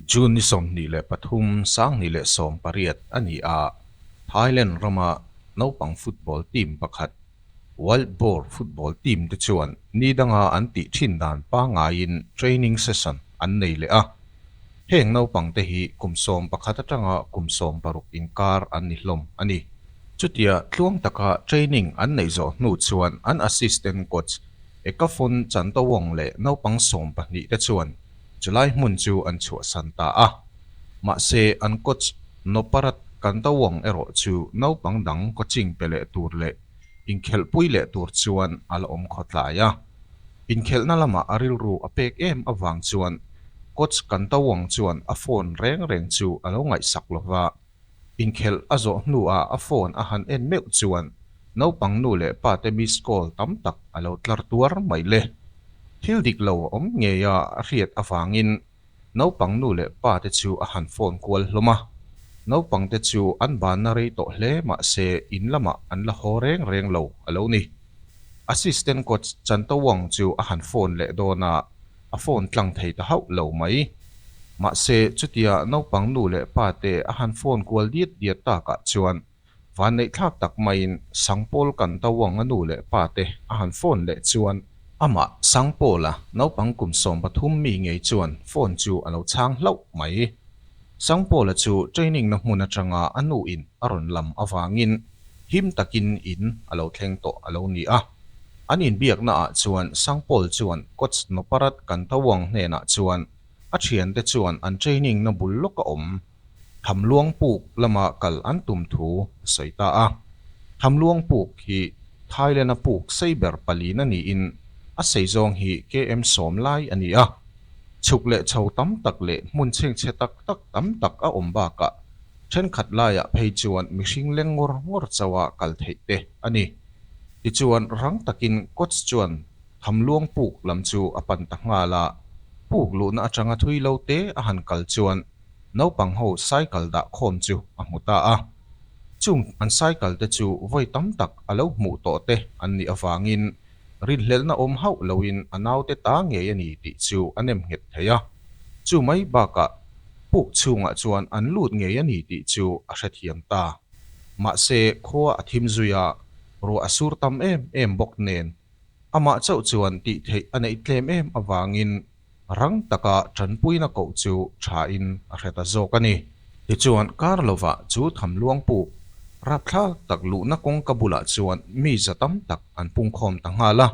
June ni sawmhnih leh pathum, Sangni leh sawm pariat a ni a Thailand rama naupang football team pakhat Wild Boar football team te chuan ni danga an tih thin dan pangaiin training session an nei leh a. Heng naupang te hi kum sawm pakhat atanga kum sawm paruk inkar an ni hlawm a ni. Chutia tluang taka training an neih zawh hnu chuan an assistant coach Ekafun Chantawong leh naupang sawm pahnih te chuan chulai hmun chu an chhuahsan ta a. Mahse, an coach Noparat Kandawong erawh chu naupang dang coaching pe leh tur leh inkhelhpui leh tur chuan a la awm khawtlai a. Inkhelhna lamah a rilru a pek em avang chuan coach Kandawong chuan a phone reng reng chu a lo ngaihsak lo va. Inkhelh a zawh hnuah a phone a han en meuh chuan naupang nu leh pate missed call tam tak a lo tlar tuar mai le. Thil dik lo a awm ngeia a hriat avangin naupang nu leh pate chu a han phone kual hlawm a. Naupangte chu an banna rei tawh hle mahse in lamah an la haw reng reng lo a lo ni. Assistant coach Chantawng chu a han phone leh dawnah a phone tlang thei ta hauh lo mai. Mahse, chutia naupang nu leh pa te a han phone kual diat diat takah chuan vanneihthlak tak maiin Sangpawl Kantawanga nu leh pa te a han phone leh chuan, amah, Sangpawla naupang kum sawm pathum mi ngei chuan phone chu a lo chhang hlauh mai. Sangpawla chu training na hmun atanga a nu in a rawn lam avangin, him takin in a lo thleng tawh a lo ni a. An inbiakna ah chuan Sangpawl chuan Coach Noparat Kantawang hnenah chuan a thiante chuan an training na bul lawk a awm Thamluangpuk lama kal an tum thu a sawi ta a. Thamluangpuk hi Thailand a puk sei ber pali na niin a sei zawng hi KM Sawmlai a ni a. Chhuk leh chho tam tak leh hmun chhengchhe tak tak tam tak a awm bakah thenkhat laiah phei chuan mihring leng ngawr ngawr choa kal theih te a ni. Tichuan rang takin coach chuan thamluang puk lam chu a pan ta nghal a, puk luhna atanga thui lo te a han kal chuan naupang ho cycle dah khawm chu a hmu ta a. Chung an cycle te chu vawi tam tak a lo hmuh tawh te an nih avangin Rinhlelhna awm hauh loin a naute ta ngei a ni tih chu a nem nghet thei a, chu mai bakah puk chhungah chuan an lut ngei a ni tih chu a hrethiam ta. Mahse, khua a thim zui a, ruah a sur tam em em bawk nen, amah chauh chuan tihtheih a neih tlem em avangin Rang taka tanpuina koh chu tha in a hre ta zawk a ni. Tichuan kar lova chu tham luang puk rapthlak tak luhna kawngka bulah chuan mi za tam tak an pungkhawm ta nghal a.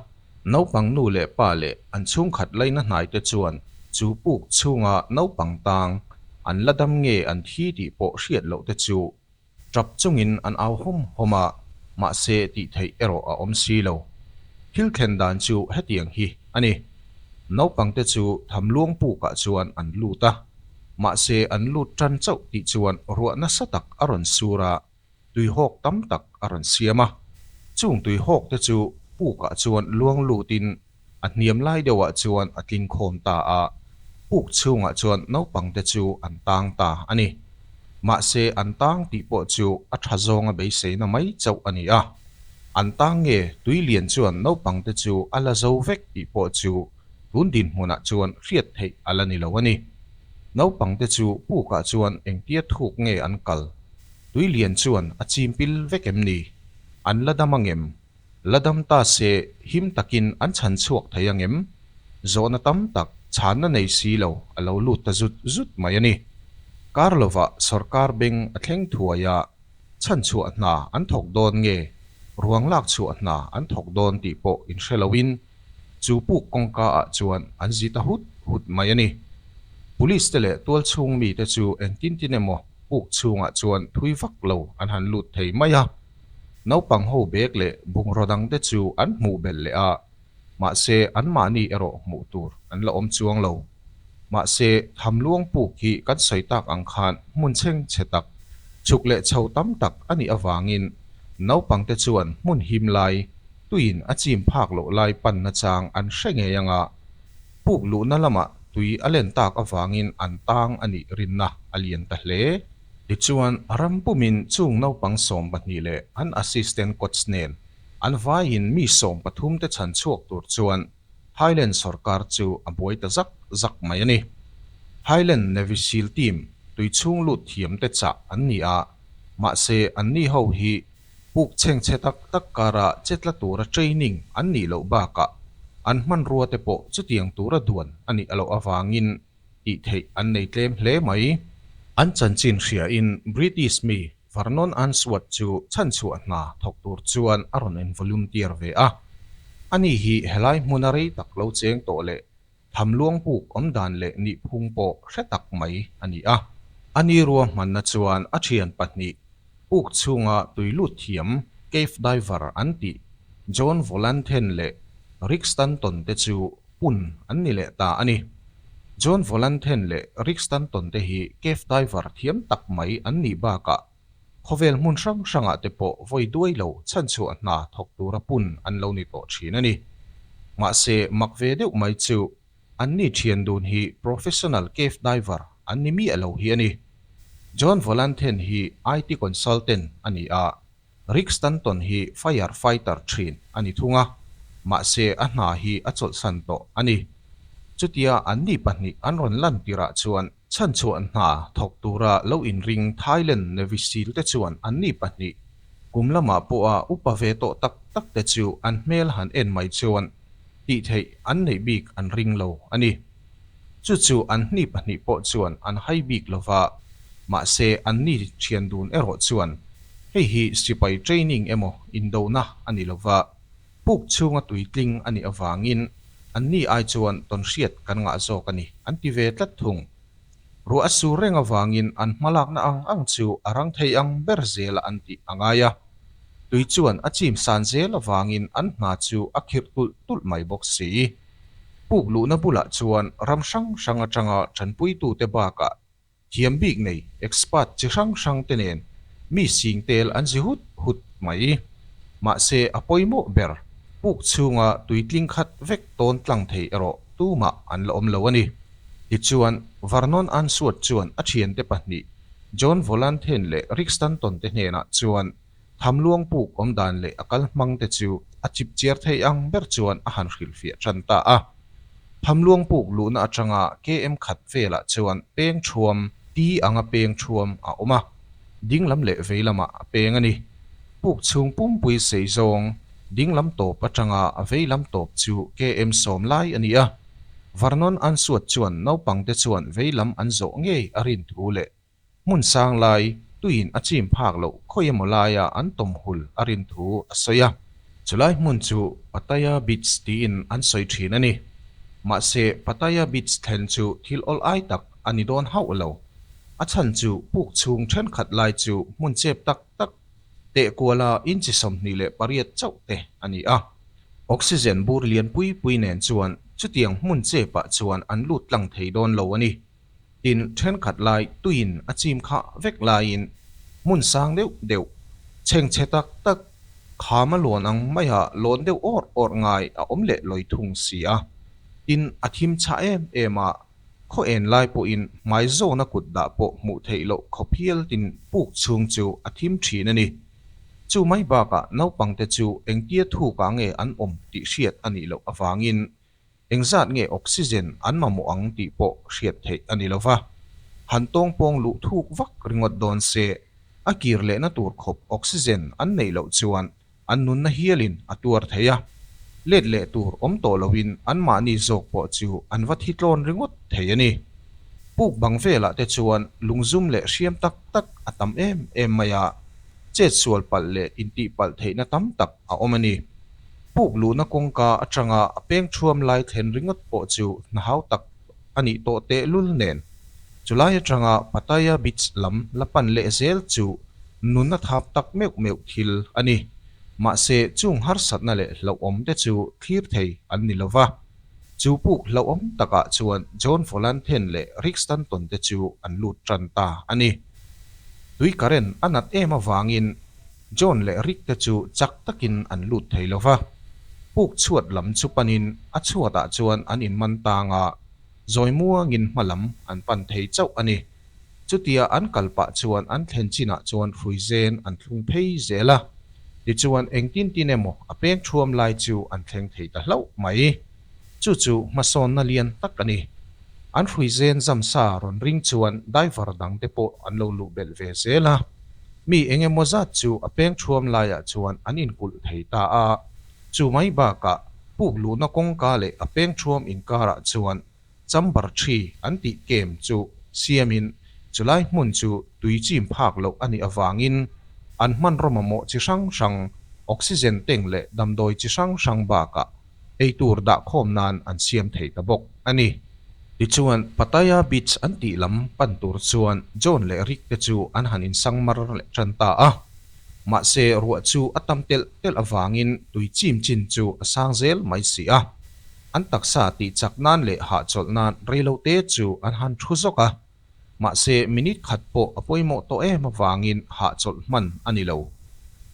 Naupang nu leh pa leh an chhungkhat laina hnaite chuan chu puk chhunga naupang tang an la dam nge an thi tih pawh hriat lohte chu Tap chungin an au hawm hawm a, mahse tih theih erawh a awm si lo. Thil thlen dan chu hetiang hi a ni, Naupangte chu tham luang pukah chuan an lut a, mahse an lut tan chauh tih chuan ruah nasa tak a rawn sur a, tui hawk tam tak a rawn siam a. Chung tui hawkte chu pukah chuan luang lutin A hniam lai deuhah chuan a tling khawm ta a, puk chhungah chuan naupangte chu an tang ta a ni. Mahse an tang tih pawh chu a tha zawnga beiseina mai chauh a ni a. An tang nge tui lian chuan naupangte chu a la zo vek tih pawh chu tun dinhmunah chuan hriat theih a la ni lo a ni. Naupangte chu pukah chuan engtia thuk nge an kal? Tui lian chuan a chimpil vek em ni? An la dam angem? La dam ta se, him takin an chhan chhuak thei ang em? Zawhna tam tak chhan na nei si lo a lo lut ta zut zut mai a ni. Karlova sorkar beng a thleng thuai a, chhan chhuah hna an thawk dawn nge, ruang lak chhuah hna an thawk dawn tih pawh in hre loin, chu puk kawngka ah chuan an zit a hut hut mai a ni. Police te leh tual chhung mi te chu engtin tin emaw puk chhungah chuan thui vak lo an han lut thei mai a. Naupang ho bek leh bungraw dang te chu an hmuh belh leh a, mahse anmahni erawh hmuh tur an la awm chuang lo. Mahse, tham luang puk hi kan sawi tak ang khan hmun chheng chhe tak, chhuk leh chho tam tak a nih avangin naupang te chuan hmun him lai, tuiin a chim phak loh lai panna chang an hre ngei ang a. Puk luhna lamah tui a len tak avangin an tang a nih rinna a lian ta hle. Tichuan, ram pumin chung naupang sawm pahnih leh an assistant coach nen an vaiin mi sawm pathum te chhan chhuak tur chuan Thailand sorkar chu a buai ta zak zak mai a ni. Thailand Navy Seal Team tui chhung lut thiam te chah an ni a, mahse an ni ho hi puk chhengchhe tak tak kara che tla tura training an nih loh bakah an hmanrua te pawh chutiang tura duan a nih a loh avangin, tih theih an nei tlem hle mai. An chanchin hria in British mi Vernon Unsworth chu chhanchhuah hna thawk tur chuan a rawn en volunteer ve a. Ani hi helai hmun a rei tak lo cheng tawh leh tham luangpuk awmdan leh nihphung pawh hre tak mai a ni a. Ani ruahmanna chuan a thian pahnih puk chhunga tui lut thiam cave diver an tih John Volanthen leh Rick Stanton te chu Hun an ni leh ta a ni. John Volanthen leh Rick Stanton te hi cave diver thiam tak mai an nih bakah khawvel hmun hrang hrangah te pawh vawi duai lo chhanchhuah hna thawk tura pun an lo ni tawh thin a ni. Mahse, mak ve deuh mai chu an ni thian dun hi professional cave diver an ni miah lo hi a ni. John Volanthen hi IT consultant a ni a, Rick Stanton hi fire fighter thin a ni thung a, mahse a hna hi a chawlhsan tawh a ni. Chutia an ni pahnih an rawn lan tirah chuan chhanchhuah hna thawk tura lo inring Thailand Navy Seal te chuan an ni pahnih kum lama pawha upa ve tawh tak tak te chu an hmel han en mai chuan tih theih an neih bik an ring lo a ni. Chu chu an hni pahnih pawh chuan an hai bik lo va, mahse an ni thian dun erawh chuan hei hi sipai training emaw indona a ni lo va, puk chhunga tui tling a nih avangin an ni ai chuan tawn hriat kan ngah zawk a ni an ti ve tlat thung. Ruah a sur reng avangin an hma lakna ang ang chu a rang thei ang ber zela an tih a ngai a, tui chuan a chim san zel avangin an hna chu a khirh tulh tulh mai bawk si. Puk luhna bulah chuan ram hrang hrang atanga ṭanpuitute bakah thiam bik nei expert chi hrang hrangte nen mi sing tel an zi hut hut mai. Mahse a pawimawh ber puk chhunga tui tling khat vek tawn tlang thei erawh tumah an la awm lo a ni. Tichuan, Vernon Answorth chuan a ṭhiante pahnih John Volanthen leh Rick Stanton te hnenah chuan Tham luangpuk awmdan leh a kal hmang te chu a chip chiar thei ang ber chuan a han hrilh fiah ṭan ta a. Tham luangpuk luhna aṭanga KM khat velah chuan peng ṭhuam, ti anga peng ṭhuam, a awm a, dinglam leh veilamah a peng a ni. Puk chhung pumpui sei zawng, dinglam tawp aṭanga veilam tawp chu KM sawm lai a ni a. Vernon Ansuat chuan naupangte chuan veilam an zawh ngei a rin thu leh Hmun sang lai tuiin a chim phak loh khawi emaw laia an tawm hul a rin thu a sawi a. Chulai hmun chu Pattaya Beach tiin an sawi thin a ni. Mahse Pattaya Beach thlen chu thil awlh ai tak a ni dawn hauh lo. A chhan chu puk chhung thenkhat lai chu hmun chep tak tak, teh kuala inchi sawmhnih leh pariat chauh te a ni a. Oxygen bur lian pui pui nen chuan chutiang hmun chepah chuan an lut tlang thei dawn lo a ni. Tin, thenkhat lai tuiin a chim khah vek laiin hmun sang deuh deuh, chheng chhe tak tak, kham a luan ang maia lawn deuh awrh awrh ngai a awm leh lawi thung si a. Tin, a thim chhah em em a, khaw en lai pawhin hmai zawna kut dah pawh hmuh theih loh khaw phial tin puk chhung chu a thim thin a ni. Chu mai bakah naupangte chu engtia thukah nge an awm tih hriat a nih loh avangin Engzat nge oxygen an mamawh ang tih pawh hriat theih a ni lo va, han tawng pawng luh thuk vak ringawt dawn se, a kir lehna tur khawp oxygen an neih loh chuan an nunna hialin a tuar thei a, let leh tur awm tawh loin anmahni zawk pawh chu an va thi tlawn ringawt thei a ni. Puk bang velah te chuan lungzum leh hriam tak tak a tam em em mai a, chetsual palh leh intihpalh theihna tam tak a awm a ni. Puk luhna kawngka atanga a peng thuam lai thlen ringawt pawh chu hnahau tak a nih tawh tehlul nen. Chulai atanga Pattaya Beach lam la pan leh zel chu nun a thap tak meuh meuh thil a ni. Mahse, chung harsatna leh hlauhawm te chu thlir thei an ni lo va. Chu puk hlauhawm takah chuan John Volanthen leh Rick Stanton te chu an lut tan ta a ni. Tui current a nat em avangin, John leh Rick te chu chak takin an lut thei lo va, puk chhuat lam chu panin a chhuatah chuan an inman tanga zawimua ngin hma lam an pan thei chauh a ni. Chutia an kal pah chuan an thlen chinah chuan hruizen an thlung phei zel a, tichuan engtin tin emaw a peng thuam lai chu an thleng thei ta hlauh mai. chu chu hmasawnna lian tak a ni. An hruizen zamsa rawn ring chuan daivar dang te pawh an lo luh belh ve zel a, mi eng emaw zat chu a peng thuam laiah chuan an inkulh thei ta a, chu mai bakah puk luhna kawngka leh a peng thuam inkarah chuan chamber thi an tih kem chu siamin chu lai hmun chu tui chim phak loh a nih avangin an hmanraw mamawh chi hrang hrang, oxygen teng leh damdawi chi hrang hrang bakah eitur dah khawm nan an siam thei ta bawk a ni. Tichuan, Pattaya Beach an tih lam pan tur chuan John leh Rick te chu an han in sang mar leh tan ta a. Mahse, ruah chu a tam telh telh avangin tui chim chin chu a sang zel mai si a. An taksa tihchak nan leh hahchawlh nan rei lo te chu an han thu zawk a. Mahse, minute khat pawh a pawimawh tawh em avangin hah chawlh hman a ni lo.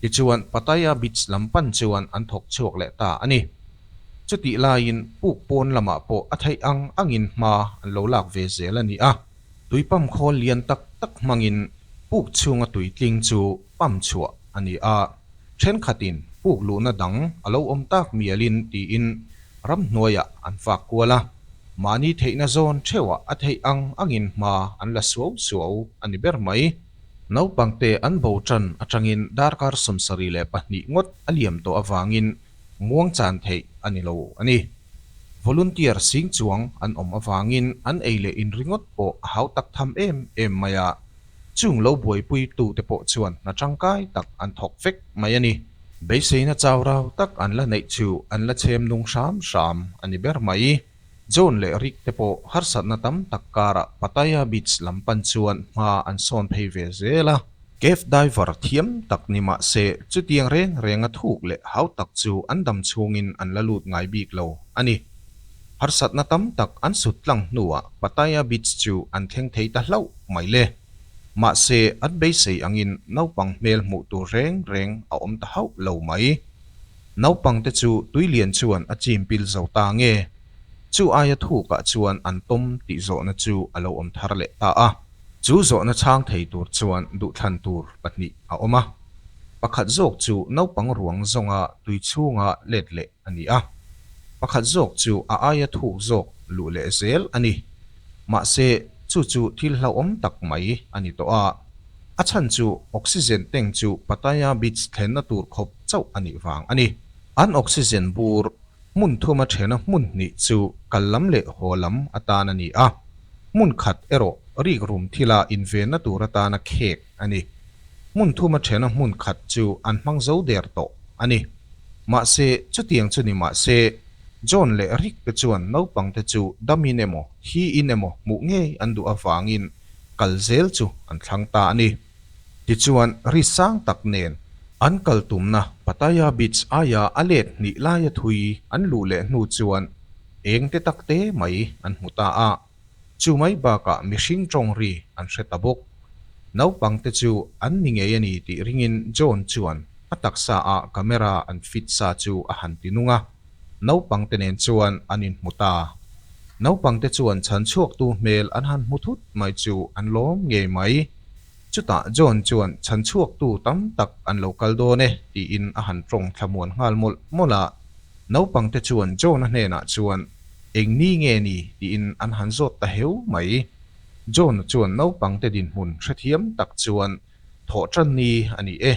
Tichuan, Pattaya Beach lam pan chuan an thawk chhuak leh ta a ni. Chutih laiin puk pawn lamah pawh a theih ang angin hma an lo lak ve zel a ni a. Tuipam khawl lian tak tak hmangin puk chhunga tui tling chu pump chhuah a ni a, thenkhatin puk luhna dang a lo awm tak mialin tiin ramhnuaiah an fak kual a, mahni theihna zawn theuhah a theih ang angin hma an la suau suau a ni ber mai. Naupangte an bo tan atangin darkar sawmsarih leh pahnih ngawt a liam tawh avangin muangchan theih a ni lo a ni. Volunteer sing chuang an awm avangin an ei leh in ringawt pawh a hau tak tham em em mai a. Chung lo buaipui tu te pawh chuan hna tangkai tak an thawk vek mai a ni. Beiseina chaurau tak an la neih chu an la chhem nung hram hram a ni ber mai. John leh Rick te pawh harsatna tam tak karah Pattaya Beach lam pan chuan hma an sawn phei ve zel a. Cave diver thiam tak ni mah se, chutiang reng renga thuk leh hau tak chu an dam chhungin an la lut ngai bik lo a ni. harsatna tam tak an sut tlang hnuah Pattaya Beach chu an thleng thei ta hlauh mai le. Mahse, an beisei angin naupang hmel hmuh tur reng reng a awm ta hauh lo mai. Naupangte chu tui lian chuan a chimpil zo ta nge. Chu aia thukah chuan an tawm tih zawhna chu a lo awm thar leh ta a. Chu zawhna chhang thei tur chuan duhthlan tur pahnih a awm a. Pakhat zawk chu naupang ruang zawnga tui chhunga let leh a ni a, pakhat zawk chu a aia thuk zawk luh leh zel a ni. Mahse, chu chu thil hlauhawm tak mai a ni tawh a, a chhan chu oxygen tank chu Pattaya Beach thlenna tur khawp chauh a nih vang a ni. An oxygen bur hmun thum a thena hmun hnih chu kal lam leh haw lam atan a ni a, hmun khat erawh rik rum thila invenna tur atana khek a ni. Hmun thuma thena hmun khat chu an hmang zo der tawh a ni. Mahse, chutiang chu ni mah se, John leh Rick te chuan naupangte chu damin emaw, hiin emaw hmuh ngei an duh avangin kal zel chu an thlang ta a ni. Tichuan, ri sang tak nen an kal tumna Pattaya Beach aia a let hnih laia thui an luh leh hnu chuan eng te takte mai an hmu ta a. Chu mai bakah mihring tawng ri an hre ta bawk. Naupangte chu an ni ngei a ni tih ringin John chuan a taksa a camera an fit sa chu a han ti nung a, naupangte nen chuan an inhmu ta. Naupangte chuan chhan chhuaktu hmel an han hmu thut mai chu an lawm ngei mai. Chutah John chuan chhan chhuaktu tam tak an lo kal dawn e tiin a han tawng thla muan nghal mawlh mawlh a. Naupangte chuan John-a hnenah chuan Eng ni nge ni? tiin an han zawt ta heu mai. John-a chuan naupangte dinhmun hrethiam tak chuan Thawhṭan ni a ni e,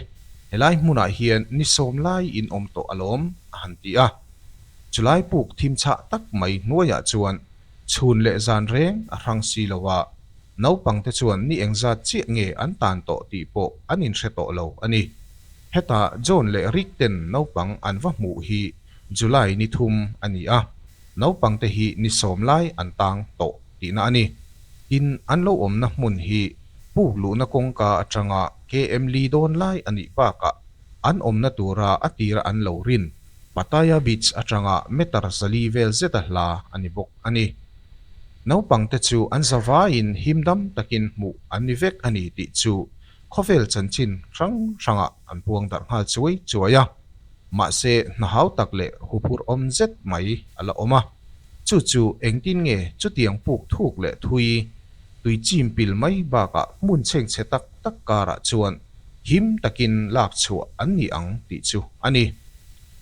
helai hmunah hian ni sawm lai in awm tawh alawm a han ti a. Chulai puk thimchhah tak mai hnuaiah chuan Chhun leh zan reng a hrang si lo a, naupangte chuan ni engzat chiah nge an tan tawh tih pawh an inhre tawh lo a ni. Heta John leh Rick ten naupang an va hmuh hi July ni thum a ni a, naupangte hi ni sawm lai an tang tawh tihna a ni. Tin, an lo awmna hmun hi puk luhna kawngka atanga KM Lee dawn lai a nih bakah An awmna tura a tira an lo rin. Pattaya Beach atanga meter zali vel zeta hla a ni bawk a ni. Naupangte chu an zavaiin him dam takin hmuh an ni vek a ni tih chu khawvel chanchin hrang hrangah an puang darh nghal chuai chuai a. Mahse hna hau tak leh huphur awm zet mai a la awm a. Chu chu engtin nge chutiang puk thuk leh thui tui chimpil mai bakah hmunchheng chhe tak tak karah chuan him takin lak chhuah an ni ang tih chu a ni.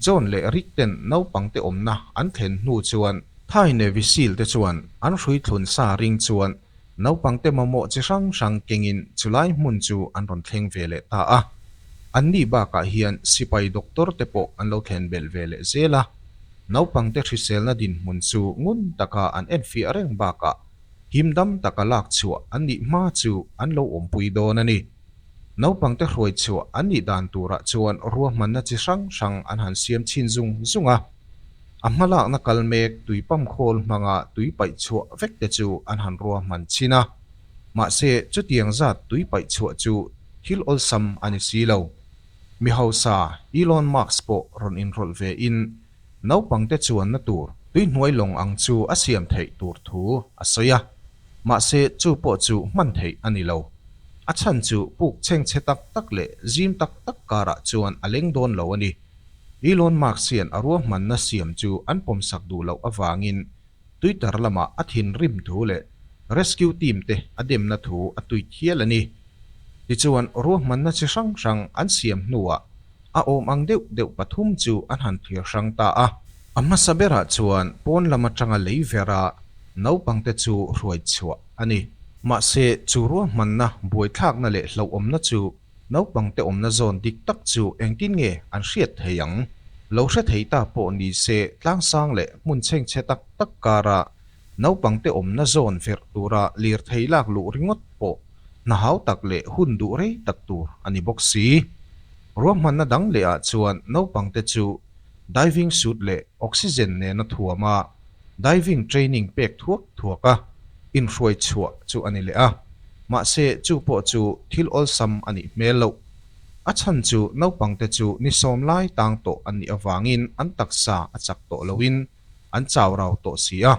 John leh Rick ten naupangte awmna an thlen hnu chuan, Thai Navyseal-te chuan an hrui thlun sa ring chuan naupangte mamawh chi hrang hrang kengin chulai hmun chu an rawn thleng ve leh ta a, anni bakah hian sipai doctor te pawh an lo thlen belh ve leh zel a, naupangte hriselna dinhmun chu ngun taka an enfiah reng bakah him dam tak a lak chhuah an nih hma chu an lo awmpui dawn a ni. Naupangte hruai chhuah an nih dan turah chuan ruahmanna chi hrang hrang an han siam chhin zung zung a. A hma lakna kal mek tui pam khawl hmanga tui paih chhuah vek te chu an han ruahman chhin a. Mahse, chutiang zat tui paih chhuah chu thil awlsam a ni si lo. Mi hausa Elon Musk pawh rawn inrawlh ve in Naupangte chuanna tur tuihnuai lawng ang chu a siam theih tur thu a sawi a, mahse chu pawh chu hman theih a ni lo. A chhan chu puk chengchhe tak tak leh zim tak tak karah chuan a leng dawn lo a ni. Elon Musk hian a ruahmanna siam chu an pawmsak duh loh avangin Twitter lamah a thinrim thu leh rescue team te a demna thu a tweet hial a ni. Tichuan, ruahmanna chi hrang hrang an siam hnuah a awm ang deuh deuh pathum chu an han thlir hrang ta a. A hmasa berah chuan pawn lam atanga lei vera naupang te chu hruai chhuah a ni. Mahse, chu ruahmanna, buaithlakna leh hlauhawmna chu Naupangte awmna zawn dik tak chu engtin nge an hriat thei ang? Lo hre thei ta pawh ni se tlang sang leh hmun chheng che tak tak kara naupangte awmna zawn ferh tura lirthei lak luh ringawt pawh hna hau tak leh hun duh rei tak tur a ni bawk si. Ruahmanna dang lehah chuan naupangte chu diving suit leh oxygen nena thuam a, Diving training pek thuak thuak a inhruai chhuah chu a ni leh a, mahse chu pawh chu thil awlsam a nih hmel lo. A chhan chu naupangte chu ni sawm lai tang tawh an nih avangin an taksa a chak tawh loin an chau rau tawh si a,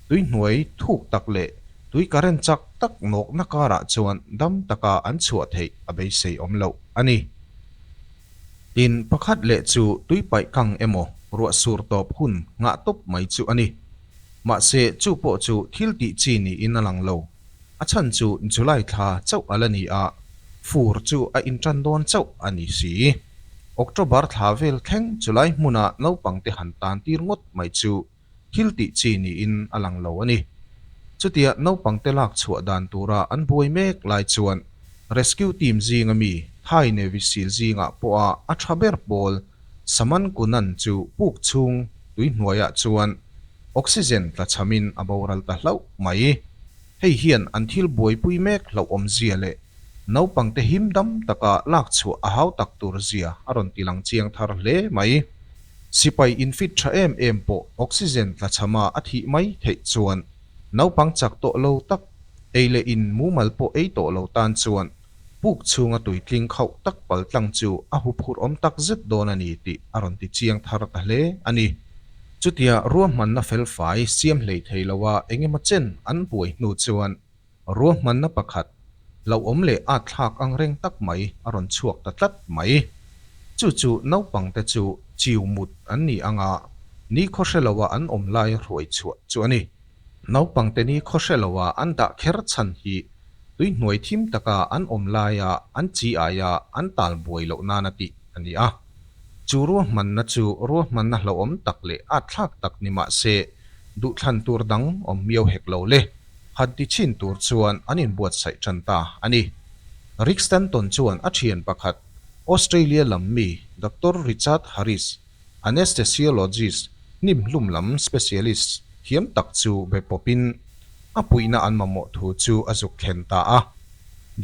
tuihnuai thuk tak leh tui current chak tak nawkna karah chuan dam taka an chhuah theih a beisei awm loh a ni. In pakhat leh chu tuipaih kang emaw ruah sur tawp hun nghah tawp mai chu a ni. Mahse chu pawh chu thil tih chi niin a lang lo. A chhan chu July thla chauh a la ni a, fur chu a inṭan dawn chauh a ni si. October thla vel thleng chu lai hmuna naupangte han tan tir ngawt mai chu thil tih chi niin a lang lo a ni. Chutia naupangte lak chhuah dan tura an buai mek lai chuan rescue team zinga mi Thai Navy seal zingah pawha a tha ber pawl Saman Kunan chu puk chhung tui hnuaiah chuan oxygen tla chhamin a boral ta hlauh mai. Hei hian an thil buaipui mek hlauhawmzia leh naupangte him dam taka lakchhuah a hau tak tur zia a rawn tilang chiang thar hle mai. Sipai infit tha em em pawh oxygen tla chhama a thih mai theih chuan naupang chak tawh lo tak ei leh in mumal pawh ei tawh lo tan chuan puk chhunga tui tling khauh tak pal tlang chu a hup hur awm tak zet dawn a ni tih a rawn ti chiang thar ta hle a ni. Chutia ruahmanna felfai siam hleithei loa eng emaw chen an buai hnu chuan Ruahmanna pakhat, hlauhawm leh aathlak angreng tak mai a rawn chhuak ta tlat mai. Chu chu naupangte chu chiu mut an ni anga nikhaw hre loa an awm lai hruai chhuah chu a ni. Naupangte nikhaw hre loa an dah kher chhan hi tuihnuai thim taka an awm laia an chi aia an tal buai loh nan a tih a ni a. Chu ruahmanna chu ruahmanna hlauhawm tak leh atthlak tak ni mah se, duhthlan tur dang awm miau hek lo le hatti chin tur chuan an inbuatsaih tan ta a ni. Rick Stanton chuan a thian pakhat, Australia lam mi Doctor Richard Harris, Anaesthesiologist, hnimhlum lam specialist, hiam tak chu be pawpin a puihna an mamawh thu chu a zuk thlen ta a.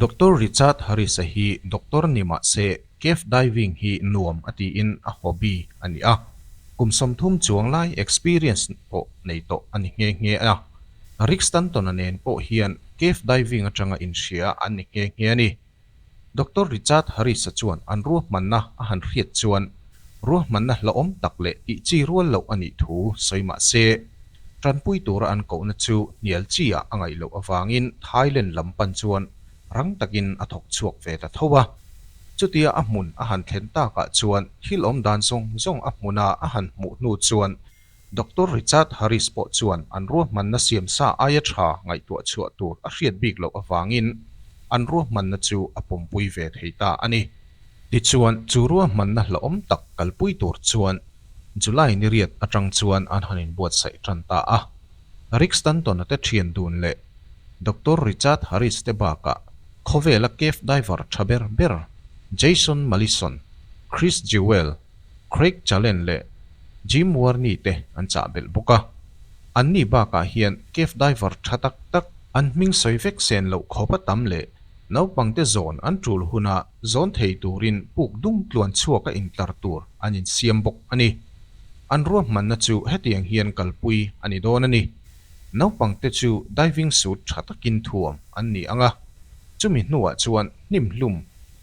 Doctor Richard Harris-a hi doctor ni mah se, Cave diving hi nuam a tiin a hobby a ni a, kum sawmthum chuang lai experience pawh nei tawh a ni nghe nghe a. Rick Stanton-a nen pawh hian cave diving atanga inhria an ni nghe nghe a ni. Doctor Richard Harris-a chuan an ruahmanna a han hriat chuan ruahmanna hlauhawm tak leh tihchi rual loh a nih thu sawi mah se, tanpui tura an kohna chu hnial chiah a ngaih loh avangin Thailand lam pan chuan rang takin a thawk chhuak ve ta tho a. Chutia a hmun a han thlen takah chuan thil awm dan zawng zawng a hmuna a han hmuh hnu chuan Doctor Richard Harris pawh chuan an ruahmanna siam sa aia tha ngaihtuah chhuah tur a hriat bik loh avangin an ruahmanna chu a pumpui ve thei ta a ni. Tichuan, chu ruahmanna hlauhawm tak kalpui tur chuan July ni riat atang chuan an han inbuatsaih tan ta a. Rick Stanton-a te thian dun leh Doctor Richard Harris te bakah khawvela cave diver tha ber ber Jason Malison, Chris Jewell, Craig Challen leh Jim Warney te an chahbelh bawk a. Anni bakah hian cave diver tha tak tak an hming sawi vek sen loh khawpa tam leh naupangte zawn an tul huna zawn thei turin puk dum tluan chhuaka intlar tur an insiam bawk a ni. An ruahmanna chu hetiang hian kalpui a ni dawn a ni. Naupangte chu diving suit tha takin thuam an ni ang a, chumi hnuah chuan hnimhlum,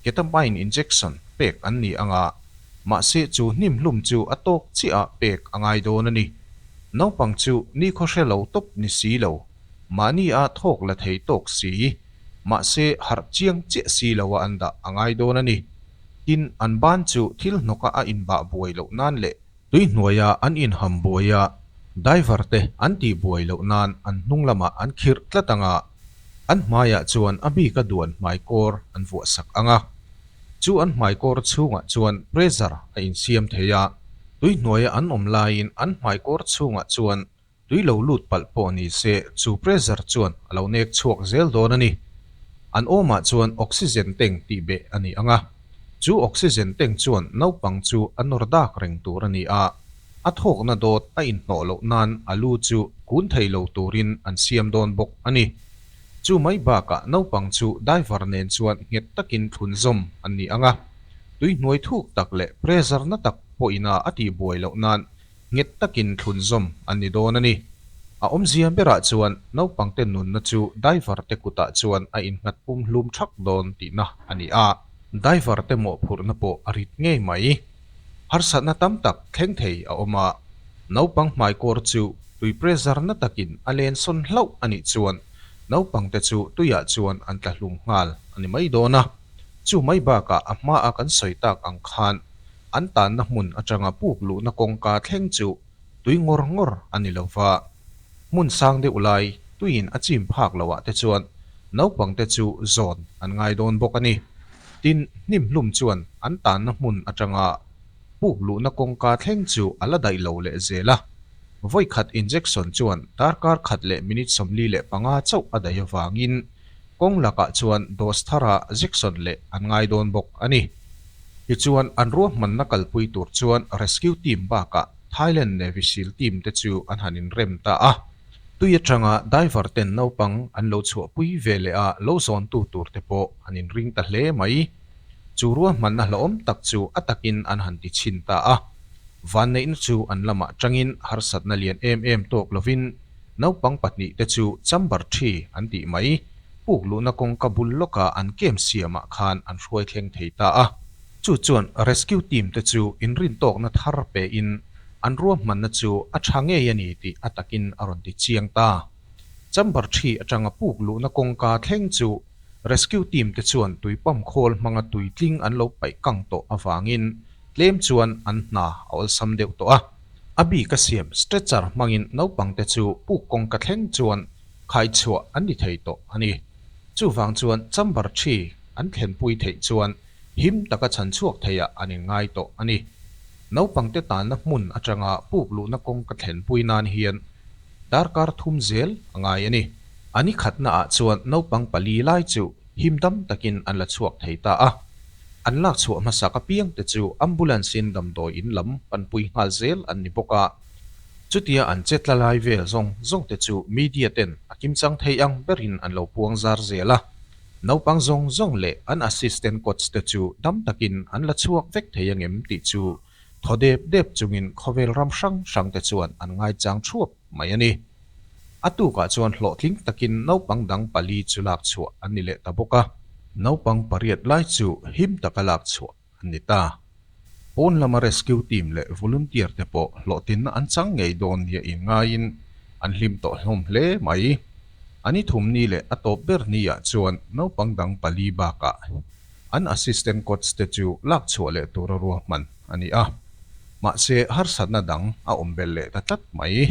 ketamine injection, pek an ni ang a. Mahse chu hnimhlum chu a tawk chiaha pek a ngai dawn a ni. Naupang chu nikhaw hre lo tawp ni si lo, mahni a thawk la thei tawk si, mahse harh chiang chiah si loa an dah a ngai dawn a ni. Tin, an ban chu thil hnawkah a inbah buai loh nan leh tui hnuaia an inham buaia daivarte an tih buai loh nan an hnung lamah an khirh tlat anga an hmaiah chuan a bika duan hmaikawr an vuah sak ang a. Chu an hmaikawr chhungah chuan pressure a insiam thei a, tui hnuaia an awm laiin an hmaikawr chhungah chuan Tui lo lut palh pawh ni se, chu pressure chuan a lo nek chhuak zel dawn a ni. An awmah chuan oxygen tank tih beh a ni ang a, chu oxygen tank chuan naupang chu a nawr dak reng tur a ni a, a thawkna dawt a inhnawh loh nan a lu chu kun thei lo turin an siam dawn bawk a ni. Chu mai bakah naupang chu diver nen chuan nghet takin thlunzawm an ni ang a, tui hnuai thuk tak leh pressure na tak pawhina a tihbuai loh nan nghet takin thlunzawm an ni dawn a ni. A awmzia berah chuan naupangte nunna chu daivarte kutah chuan a innghat pum hlum thak dawn tihna a ni a. Daivarte mawhphurhna pawh a rit ngei mai. Harsatna tam tak thleng thei a awm a. Naupang hmai kawr chu tui pressure-na takin a len sawn hlauh a nih chuan naupangte chu tuiah chuan an tla hlum nghal a ni mai dawn a. Chu mai bakah a hmaa kan sawi tak ang khan an tanna hmun atanga puk luhna kawngka thleng chu tui ngawr ngawr a ni lo va, hmun sang deuh lai tuiin a chim phak loah te chuan naupangte chu zawn an ngai dawn bawk a ni. Tin, Hnimphlum chuan an tanna hmun atanga puk luhna kawngka thleng chu a la daih lo leh zel a. Vawi khat injection chuan darkar khat leh minute sawmli leh panga chauh a daih avangin kawng lakah chuan dose thara jection leh an ngai dawn bawk a ni. Tichuan, an ruahmanna kalpui tur chuan rescue team bakah Thailand Navy seal team te chu an han inrem ta a. Tui atanga diver ten naupang an lo chhuahpui ve leh a lo zawntu tur te pawh han inring ta hle mai. Chu ruahmanna hlauhawm tak chu a takin an han ti chhin ta a. Vanneihna chu an lamah tangin harsatna lian em em tawk lovin, Naupang pahnih te chu chamber thi an tih mai. Puk luhna kawngka bul lawkah an kem siamah khan an hruai thleng thei ta a. Chu chuan rescue team te chu inrin tawkna thar pein an ruahmanna chu a tha ngei a ni tih a takin a rawn ti chiang ta. Chamber thi atanga puk luhna kawngka thleng chu rescue team te chuan tui pump khawl hmanga tui tling an lo paih kang tawh avangin tlem chuan an hna a awlsam deuh tawh a. A bik a siam stretcher hmangin naupangte chu puk kawngka thleng chuan khaichhuah an ni thei tawh a ni. Chuvang chuan chamber thi an thlenpui theih chuan him taka chhan chhuak theiah an inngai tawh a ni. Naupangte tanna hmun atanga puk luhna kawngka thlenpui nan hian darkar thum zel a ngai a ni. A nikhatnaah chuan naupang pali lai chu him tam takin an la chhuak thei ta a, an lak chhuah hmasak a piangte chu ambulance-in damdawiin lam kan pui nghal zel an ni bawk a, chutia an che tla lai vel zawng zawng te chu media ten a kim chang thei ang berin an lo puang zar zel a, naupang zawng zawng leh an assistant coach te chu dam takin an la chhuak vek thei ang em tih chu thaw dep dep chungin khawvel ram hrang hrang te chuan an ngaichang thuap. mai a ni. A tukah chuan hlawhtling takin naupang dang pali chu lak chhuah an ni leh ta bawk a. Naupang pariat lai chu him taka lak chhuah an ni ta. Pawn lama rescue team leh volunteer te pawh hlawhtinna an chang ngei dawn nia in ngaiin an hlim tawh hlawm hle mai. An i thum ni leh a tawp ber ni ah chuan naupang dang pali bakah an assistant coach te chu lak chhuah leh tura ruahman a ni a, mahse harsatna dang a awm belh leh ta tlat mai.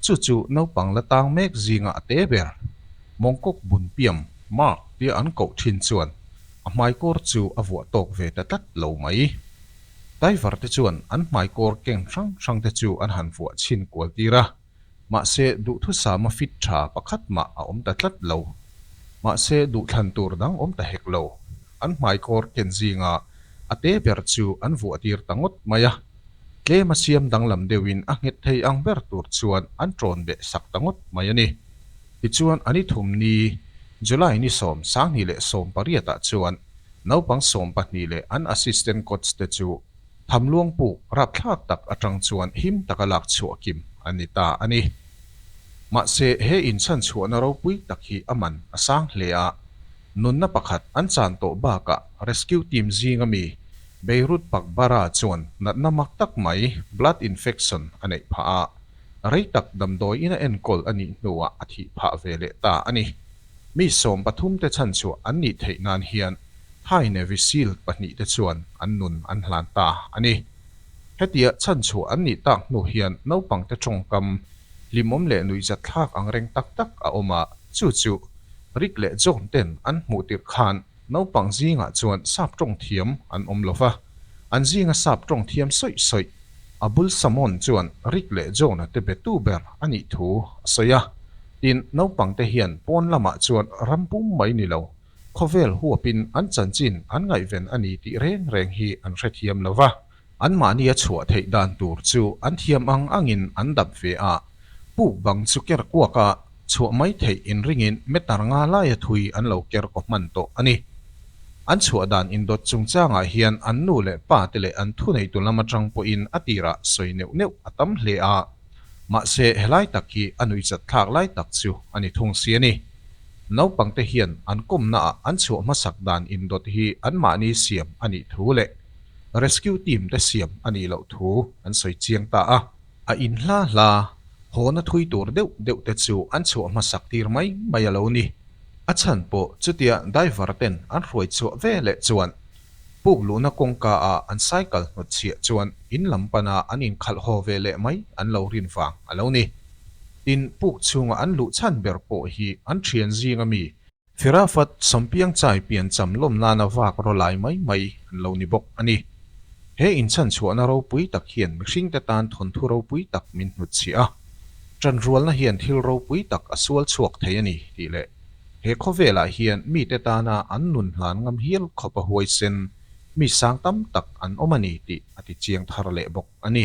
Chu chu naupang la tang mek zinga a te ber. Mongkok Bunpiam, Mark, tia an koh thin chuan a hmai kawr chu a vuah tawk ve ta tlat lo mai. Taivar te chuan an hmai kawr keng hrang hrang te chu an han vuah chhin kual tir a. Mahse, duhthusama fit tha pakhat mah a awm ta tlat lo. Mahse, duhthlan tur dang awm ta hek lo. An hmaikawr ken zinga a te ber chu an vuah tir ta ngawt mai a. Tlema siam danglam deuhin a nghet thei ang ber tur chuan an tawn beh sak ta ngawt mai a ni. Tichuan, a ni thum ni, July ni sawm, Sanghnih leh sawm pariatah chuan naupang sawm pahnih leh an assistant coach te chu, Thamluang pu rapthlak tak atang chuan him taka lak chhuah kim a ni ta a ni. Mahse he inchhanchhuahna ropui tak hi a man a sang hle a, nunna pakhat an chan tawh bakah rescue team zinga mi Beirut Pakbara chuan natna mak tak mai blood infection a neih phah a, rei tak damdawiin a enkawl a nih hnuah a thih phah ve leh ta a ni. Mi sawm pathum te chhan chhuah an nih theih nan hian Thai Navy Seal pahnih te chuan an nun an hlan ta a ni. Hetia chhan chhuah an nih tak hnu hian naupang te tawngkam, hlimawm leh nuihzat thlak angreng tak tak a awm a, chu chu rik leh zawm ten an hmuh tirh khan Naupang zingah chuan sap tawng thiam an awm lo va, an zinga sap tawng thiam sawih sawih. A bul Samon chuan Rick leh Jonah te be tu ber a nih thu a sawi a, tin naupang te hian pawn lamah chuan ram pum mai ni lo, khawvel huapin an chanchin an ngaihven a ni tih reng reng hi an hrethiam lo va. Anmahni a chhuah theih dan tur chu an thiam ang angin an dap ve a, puk bang chu ker kuaka chhuah mai theih in ringin meter nga laia thui an lo ker kaw hman tawh a ni. An chhuah dan indawt chungchangah hian an nu leh pa te leh an thuneihtu lam atang pawhin a tirah sawi neuh neuh a tam hle a, mahse helai tak hi a nui chat thlak lai tak chu a ni thung si a ni. Naupangte hian an kawmnaah an chhuah hmasak dan indawt hi anmahni siam a nih thu leh, rescue team te siam a nih loh thu an sawi chiang ta a. A in hla hla haw na thui tur deuh deuh te chu an chhuah hmasak tir mai mai a lo ni. A chhan pawh chutia diver ten an hruai chhuah ve leh chuan puk luhna kawngka ah an cycle hnawt chhiah chuan in lam pan ah an in khalh haw ve leh mai an lo rin vang a lo ni. Tin puk chhung ah an luh chhan ber pawh hi an thian zing a mi. Firafat Sampiang Chai pian cham lawm nana vak ro lai mai mai an lo ni bawk a ni. He inchhanchhuahna ropui tak hian mihringte tan thawnthu ropui tak min hnut chhi a. Tanrualna hian thil ropui tak a sual chhuak thei a ni tih leh he khawvelah hian mite tana an nun hlan ngam hial khawp a huaisen mi sang tam tak an awm a ni tih a ti chiang thar leh bawk a ni.